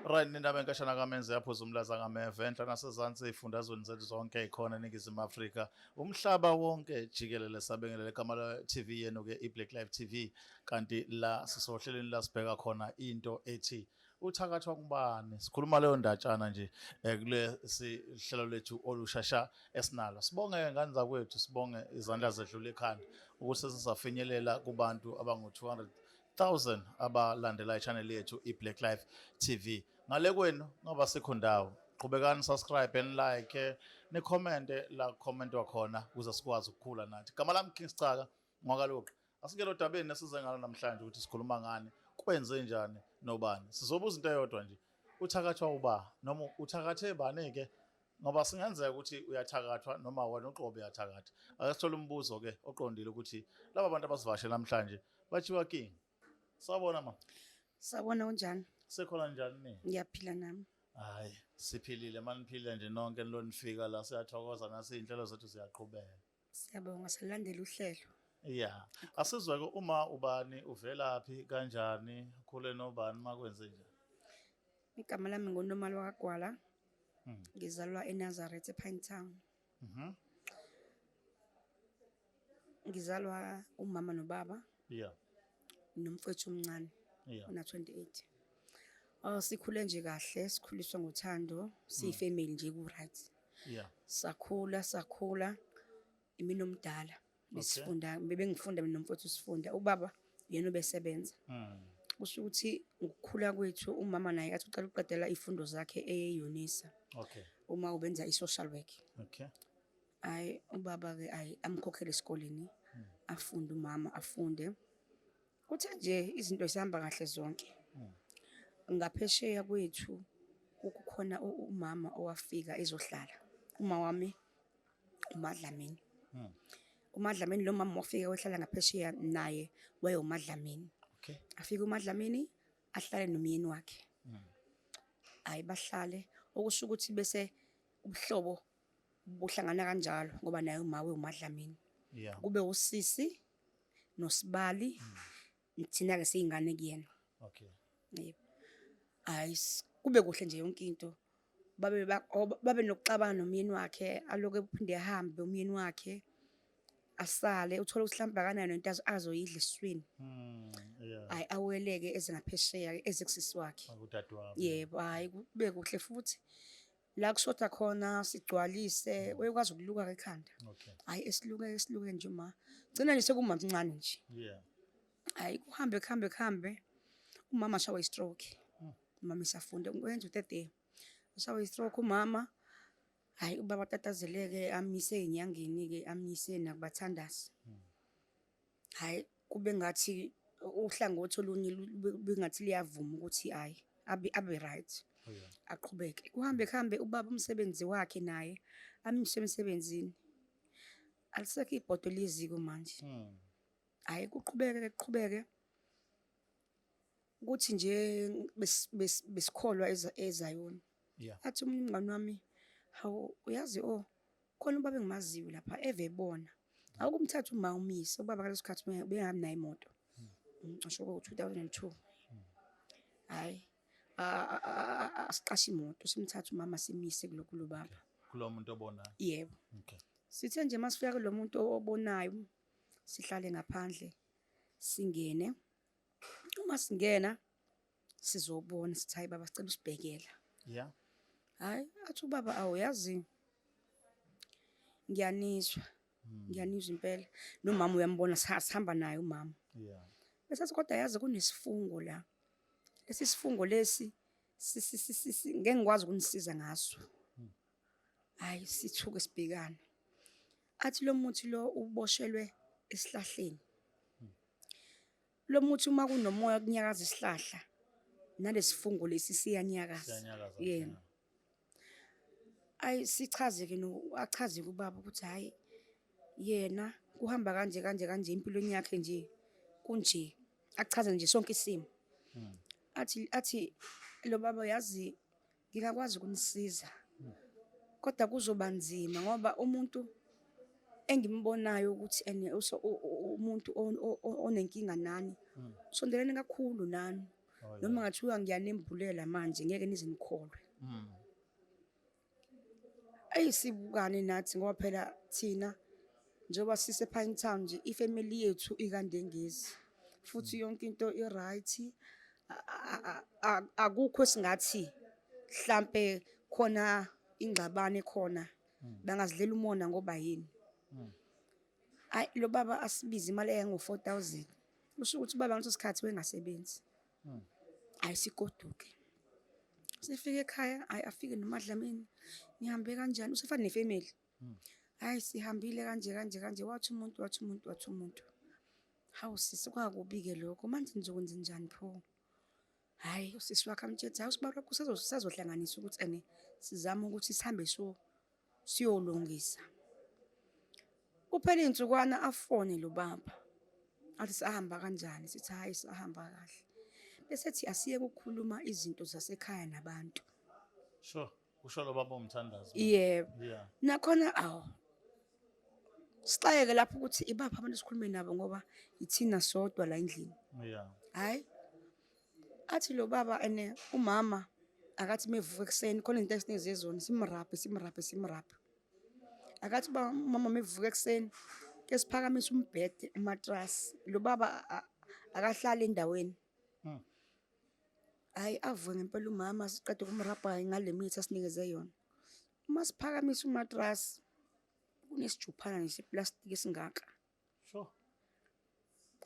Right nendaba enkashana kamenze yaphuza umlaza ngameve enhla nasezansi ifundazweni zethu zonke ikhona eningizimu Afrika umhlaba wonke jikelele sabingelele igama la TV yenu ke iBlack Life TV kanti la sisohleleni la sibheka khona into ethi uthakathwa kubani sikhuluma leyo ndatshana nje eh, kule sihlelo lethu olushasha esinalo sibonge ngane zakwethu sibonge izandla zedlule ekhanda ukuthi sizafinyelela kubantu abangu 200 1000 abalandela ichannel yethu iBlack Life TV ngale kwenu ngoba sikho ndawo qhubekani subscribe and like eh, ni comment la comment wakhona ukuze sikwazi ukukhula nathi gama lami King Sicaka ngwakaluqa asingelo dabeni esize ngalo namhlanje ukuthi sikhuluma ngani kwenze njani nobani sizobuza into eyodwa nje uthakathwa uba noma uthakathe bani ke ngoba singenzeka ukuthi uyathakathwa noma wena uqobo uyathakatha ake sithole umbuzo ke oqondile ukuthi laba bantu abasivashe namhlanje bathiwa king sabona ma sabona unjani sekhona njani ni ngiyaphila nami hayi siphilile maniphile nje nonke nilonifika la siyathokoza nasinhlelo zethu ziyaqhubeka Siyabonga silandela uhlelo. Yeah. Asizwe ke uma ubani uvelaphi kanjani khule nobani makwenze nje. Igama lami ngoNomalo kaGwala. Hmm. Ngizalwa eNazareth ePine Town. Mhm. Ngizalwa umama nobaba. Yeah. nomfowethu omncane Yeah. una 28 oh sikhule nje kahle sikhuliswa ngothando siyifamily nje ku right Yeah. sakhula sakhula imina omdala besifunda bebengifunda mina nomfowethu sifunda ubaba yena obesebenza Mm. kusho ukuthi ngokukhula kwethu umama naye athi uqala ukuqedela ifundo zakhe eyeyonisa Okay. uma ubenza i-social work Okay. Hayi ubaba-ke ayi amkhokhele esikoleni afunde umama afunde. Kuthe nje izinto zihamba kahle zonke. Ngaphesheya kwethu kukhona u- umama owafika ezohlala. Uma wami uMadlamini. UMadlamini lo mama wafika wahlala ngaphesheya naye wayewuMadlamini. Okay. Afike uMadlamini ahlale nomyeni wakhe. Hayi bahlale okusho ukuthi bese ubuhlobo Buhlangana kanjalo ngoba naye umawe uMadlamini. Yeah. Kube usisi nosibali hmm. thina ke siyingane kuyena. Okay. Yebo. Hayi kube kuhle nje yonke into. Babe oh, babe nokuxabana nomyeni wakhe aloke uphinde ehambe umyeni wakhe. asale uthole ukuthi mhlawumbe akanayo nento azoyidla esiswini hmm, hayi aweleke ezingaphesheya ezekusisi wakhe yebo hayi kube kuhle futhi la kushoda khona sigcwalise mm. uyekwazi ukuluka ke ekhanda hayi esiluke esiluke nje ma gcina nje sekumamncane nje hayi kuhambe kuhambe kuhambe umama shawa istroke mm. umama isafunda wenza utete shawa istroke umama hayi ubaba tatazeleke amise enyangeni ke amise nakubathandazi mm. hhayi kube ngathi uhlangothi olunye bengathi liyavuma ukuthi hhayi abe abe right oh, aqhubeke kuhambe kuhambe ubaba umsebenzi wakhe naye amshe emsebenzini alisekho ibhodo leziko manje hmm. hhayi kuqhubeke kuqhubeke ukuthi nje besikholwa ezayona athi omunye umngane wami hawu uyazi o oh, khona ubaba engimaziyo lapha eve ebona awukumthatha uma umyise ubaba ngaleso sikhathi bengahambi naye imoto ngisho hmm. ukuthi 2002 hayi asiqashe imoto simthatha umama simise kulokhu lobaba kulo muntu obonayo yebo okay sithe nje masifika kulo muntu obonayo sihlale ngaphandle singene uma singena sizobona sithi hayi baba sicela usibhekela yeah hayi athi ubaba awuyazi ngiyanizwa hmm. ngiyanizwa impela nomama uyambona sihamba naye umama yeah bese kodwa yazi kunesifungo la lesi sifungo lesi ngeke ngikwazi ukunisiza ngaso hmm. hayi sithuke sibhekana athi lo muthi lo uboshelwe esihlahleni lo muthi uma kunomoya kunyakaza isihlahla nalesifungo lesi siyanyakaza yena ayi sichazeke no achaze kubaba ukuthi hayi yena kuhamba kanje kanje kanje empilweni yakhe nje kunje achaze nje sonke isimo hmm. athi athi lo baba yazi Ngingakwazi ukunisiza kodwa kuzoba nzima ngoba umuntu engimbonayo ukuthi ene umuntu onenkinga nani hmm. sondelene kakhulu nani oh, noma ngathiwa ngiyanimbulela manje ngeke nize nikholwe hmm. ayisibukane nathi ngoba phela thina Njengoba sise Pine Town nje ifamily yethu ikandengezi futhi yonke into iright akukho esingathi mhlambe khona ingxabane khona hmm. bangazidlela umona ngoba yini hmm. ayi lo baba asibize imali eyango 4000 usho ukuthi baba ngaleso sikhathi wengasebenzi hmm. ayisigoduke sifike ekhaya ayi afike nomadlamini nihambe kanjani usefana nefamily Hmm. Hayi sihambile kanje kanje kanje wathi umuntu wathi umuntu wathi umuntu. Hawu sisi kwakubi-ke lokho manje nizokwenza njani pho? Hhayi usisi wakhe amtshela ukuthi hhayi usibaba wakho usazohlanganisa ukuthi ene sizame ukuthi sihambe siyolungisa. Kuphele iy'nsukwana afone lo baba athi sahamba kanjani sithi hhayi sahamba kahle. Bese ethi asiyeke ukukhuluma izinto zasekhaya nabantu. Sure. Usho lo baba umthandazo. Yebo. Yeah. Nakhona awu. Sixayeke lapho ukuthi ibaphi abantu esikhulume nabo ngoba ithina sodwa la endlini. Yeah. Hayi. Athi lo baba ene umama akathi mevuka ekuseni khona into esiningi zezona simraphe simraphe simraphe. Akathi ba umama mevuka ekuseni ke siphakamisa umbhede umatrasi. Lo baba akahlali endaweni. Mm. Hayi avuke ngempela umama siqeda ukumrabha ngale mithi asinikeze yona. Uma siphakamisa umatras kunesijuphana nje plastic esingaka. Sure.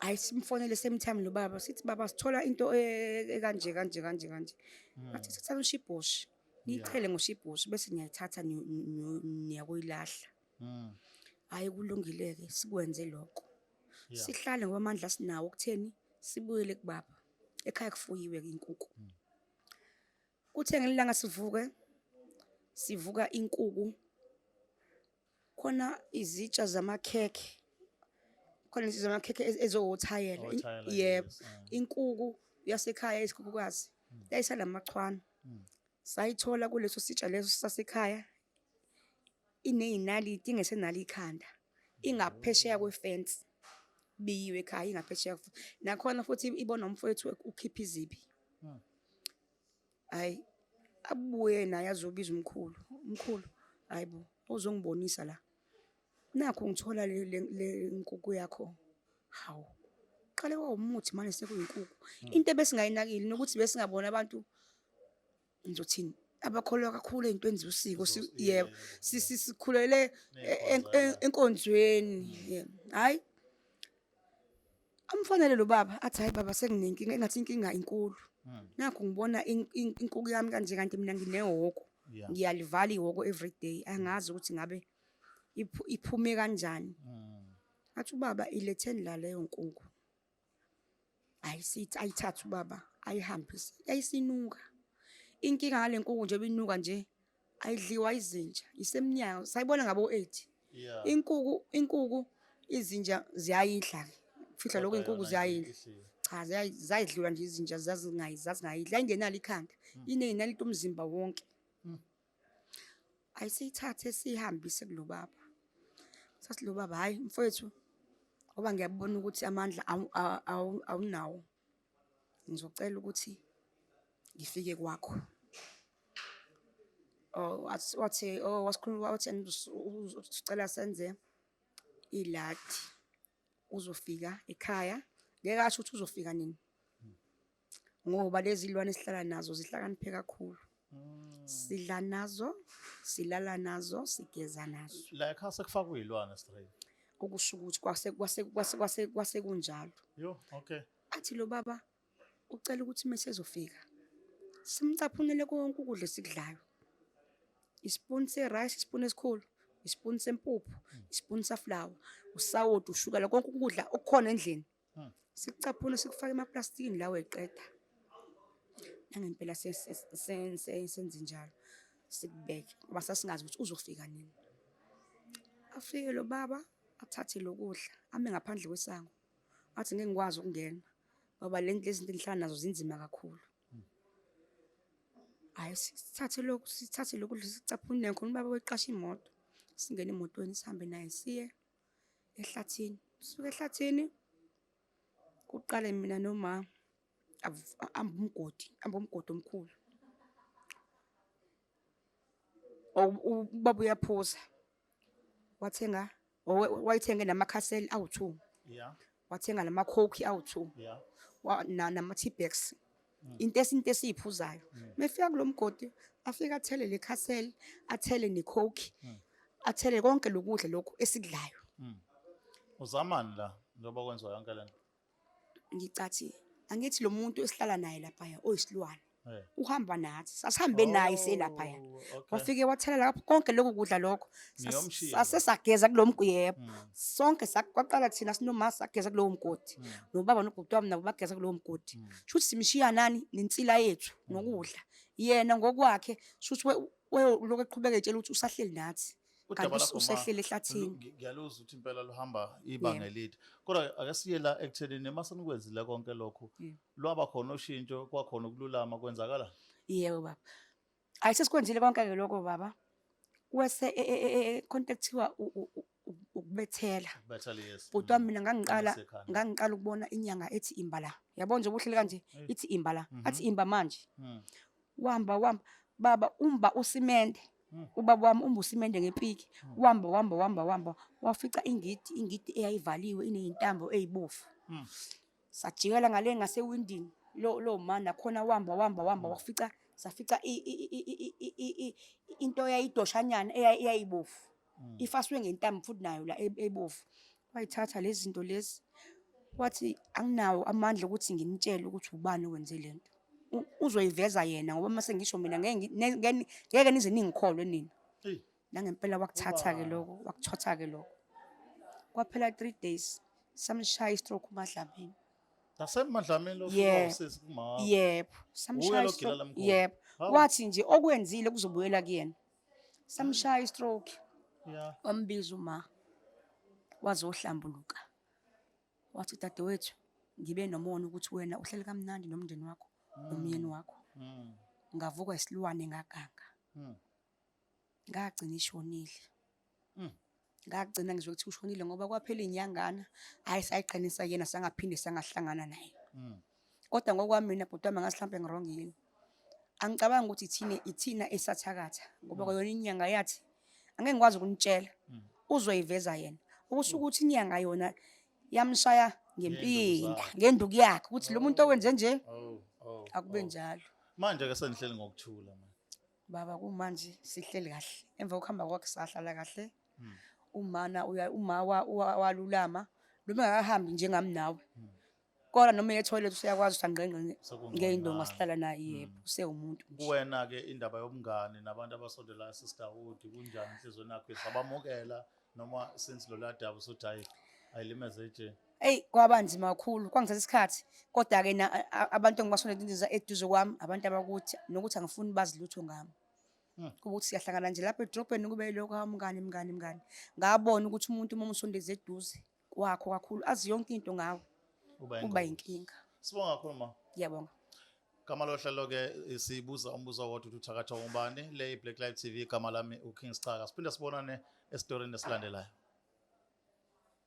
Hayi simfonele same time lo baba sithi baba sithola into e- ekanje kanje kanje kanje. Mm. Athi thatha ushibhoshi. Nichele ngoshibhoshi bese niyayithatha ni- ni- ni- niyakoyilahla. Mm. Hayi kulungileke sikwenze lokho. Yeah. Sihlale ngoba amandla sinawo ukutheni sibuyele kubaba. Ekhaya kufuyiwe inkuku. Mm. Kuthe ngelanga sivuke sivuka inkuku khona izitsha zamakhekhe khona izitsha zamakhekhe ezowothayela yebo mm. inkuku yasekhaya isikhukukazi mm. yayisala machwana mm. sayithola kuleso sitsha leso sasekhaya ineyinaliti ingesenalo ikhanda ingaphesheya kwefence biyiwe ekhaya ingaphesheya nakhona futhi ibona umfowethu ukhipha izibi hmm. hayi abuye naye azobiza umkhulu umkhulu hayi bo uzongibonisa la nakho ngithola le nkuku yakho hawu qale wawumuthi manje sekuyinkukhu hmm. into ebesingayinakile nokuthi besingabona abantu ngizothini abakholwa kakhulu ey'ntweni zosiko yebo sikhulele enkonzweni hhayi amfanele lo baba athi hhayi baba senginenkinga engathi inkinga inkulu hmm. nakho ngibona inkuku yami kanje kanti mina nginehoko ngiyalivala ihoko every day angazi ukuthi ngabe iphume kanjani hmm. athi ubaba iletheni la leyo nkuku ayisithi ayithathe ubaba ayihambise yayisinuka inkinga ngale nkuku nje binuka nje ayidliwa izinja isemnyango sayibona ngabo 8 yeah. inkuku inkuku izinja ziyayidla fihla lokho inkuku ziyayidla cha ziyayidliwa nje izinja zazingayidla zazingayidla ayingenalo ikhanda mm. inenali umzimba wonke mm. ayisiyithathe siyihambise kulo baba sathi lo baba hhayi mfowethu ngoba ngiyabona ukuthi amandla awunawo ngizocela ukuthi ngifike kwakho oh, wathi oh, wasikhuluma wathi usicela senze iladi uzofika ekhaya ngeke asho ukuthi uzofika nini ngoba lezi lwane esihlala nazo zihlakaniphe kakhulu mm. sidla nazo silala nazo sigeza nazo la ekhaya sekufakwa izilwane straight okusho ukuthi kwase kwase kwase kwase kwase kunjalo yo okay athi lo baba ucela ukuthi mesezofika simcaphunele konke ukudla esikudlayo ispoon se rice ispoon esikhulu ispoon sempuphu ispoon sa flour usawoti ushukela konke ukudla okukhona endlini sikucaphuna sikufake emaplastikini lawo eqeda nangempela senze njalo sikubeke ngoba sasingazi ukuthi uzofika nini afike lo baba athathe lokudla ame ngaphandle kwesango athi ngeke ngikwazi ukungena ngoba le nto lezinto engihlala nazo zinzima kakhulu hayi sithathe lokhu sithathe lokudla sicaphune khona ubaba weqasha imoto singene emotweni sihambe naye siye ehlathini sisuke ehlathini kuqale mina noma amba umgodi amba umgodi omkhulu ubaba uyaphuza wathenga wayithenge namakhaseli awu-two yeah wathenga lama coke awu-2 yeah. nama-tea bags mm. into esinto esiyiphuzayo mm. mefika kulo mgodi afike athele le castle athele necoke mm. athele konke lokudla lokhu esikudlayo mm. uzamani la njengoba kwenziwa yonke le nto ngicathi angithi lo muntu esihlala naye laphaya oyisilwane Eh. uhamba nathi sasihambe naye oh, selaphaya wafike wathelela lapho konke lokhu kudla lokho sase sageza kulo mgodi yebo hmm. sonke kwaqala thina sinomama sageza kulowo mgodi hmm. nobaba nobhuti wami nabo bageza kulowo mgodi hmm. shuthi simshiya nani nensila yethu nokudla yena ngokwakhe shuthi lokho eqhubeka etshela ukuthi usahleli nathi usehlele ehlathini ngiyaluzwa ukuthi impela luhamba ibanga elide kodwa akasiye la ekutheni uma senikwenzile konke lokhu lwaba khona ushintsho kwakhona ukululama kwenzakala yebo baba ayi sesikwenzile konke-ke lokho baba wese e, e, e, khonto ekuthiwa ukubethela Bethel yes. bhuti wami mina ngangiqala Esekhanda. ngangiqala ukubona inyanga ethi imba la yabona nje ubuhlele kanje ithi imba la Mhm. athi imba manje Mm. wamba wamba baba umba usimende Mm. ubaba wami umba usimende ngepiki wamba wamba wamba wamba wafica ingidi ingidi eyayivaliwe ineyintambo eyibofu Mm. sajikela ngale ngasewindini lo lo ma nakhona wamba wamba wamba wafica safica i- i- i- i- i- i- i- i- into eyayidoshanyana eya- eyayibovu ifaswe ngentambo futhi nayo la e- ebovu wayithatha lezi zinto lezi wathi anginawo amandla ukuthi ngimtshele ukuthi ubani owenze le nto U- uzoyiveza yena ngoba uma sengisho mina ngeke ngi- ne- ngeke ni- ngeke nize ningikholwe nina Eyi. nangempela wakuthatha-ke lokho wakuthotha-ke lokho kwaphela three days samshaya istroke umadlamini nasemadlamini yebo samshaya yebo wathi nje okwenzile kuzobuyela kuyena samshaya istroke wambiza uma wazohlambuluka wathi dadewethu ngibe nomona ukuthi wena uhleli kamnandi nomndeni wakho nomyeni mm. wakho mm. ngavuka isilwane ngaganga mm. ngagcina ishonile mm. ngagcina ngizwe ukuthi ushonile ngoba kwaphela iy'nyangana hhayi sayiqinisa yena sangaphinde sangahlangana naye mm. kodwa ngokwami mina bhuti wami ngathi hlampe ngirong yini angicabangi ukuthi ithina ithina esathakatha ngoba mm. kwayona inyanga yathi angeke ngikwazi ukunitshela mm. uzoyiveza yena okusho ukuthi inyanga yona yamshaya ngempinda ngenduku yakhe ukuthi lo muntu owenze nje oh, oh, oh, akube njalo manje ke sengihleli ngokuthula manje Baba kumanje sihleli kahle. Emva kokuhamba kwakhe sahlala kahle. Hmm. Umana uya uma walulama noma akahambi njengami nawe. Hmm. Kodwa noma ye toilet useyakwazi usangqengqe ngeindonga sihlala naye hmm. yebo usewumuntu nje. Kuwena ke indaba yobungani nabantu abasondela sister Wood kunjani inhliziyo nakho sabamukela noma since loladabu sothi hayi ayilimeze nje. Eyi kwaba nzima kakhulu kwangithatha isikhathi kodwa-ke abantu engibasondela eduze kwami abantu abakuthi nokuthi angifuni bazi lutho ngami hmm. ukuthi siyahlangana nje lapha edrobheni kube yilokho hawu mngani mngani mngani ngabona ukuthi umuntu uma umsondeza eduze kwakho kakhulu azi yonke into ngawe kuba yinkinga sibonga kakhulu ma ngiyabonga gama lohlelo-ke eh, sibuza umbuzo wodwa ukuthi uthakatha ubani le i-black life tv igama lami uking sicaka siphinde sibonane esitorini esilandelayo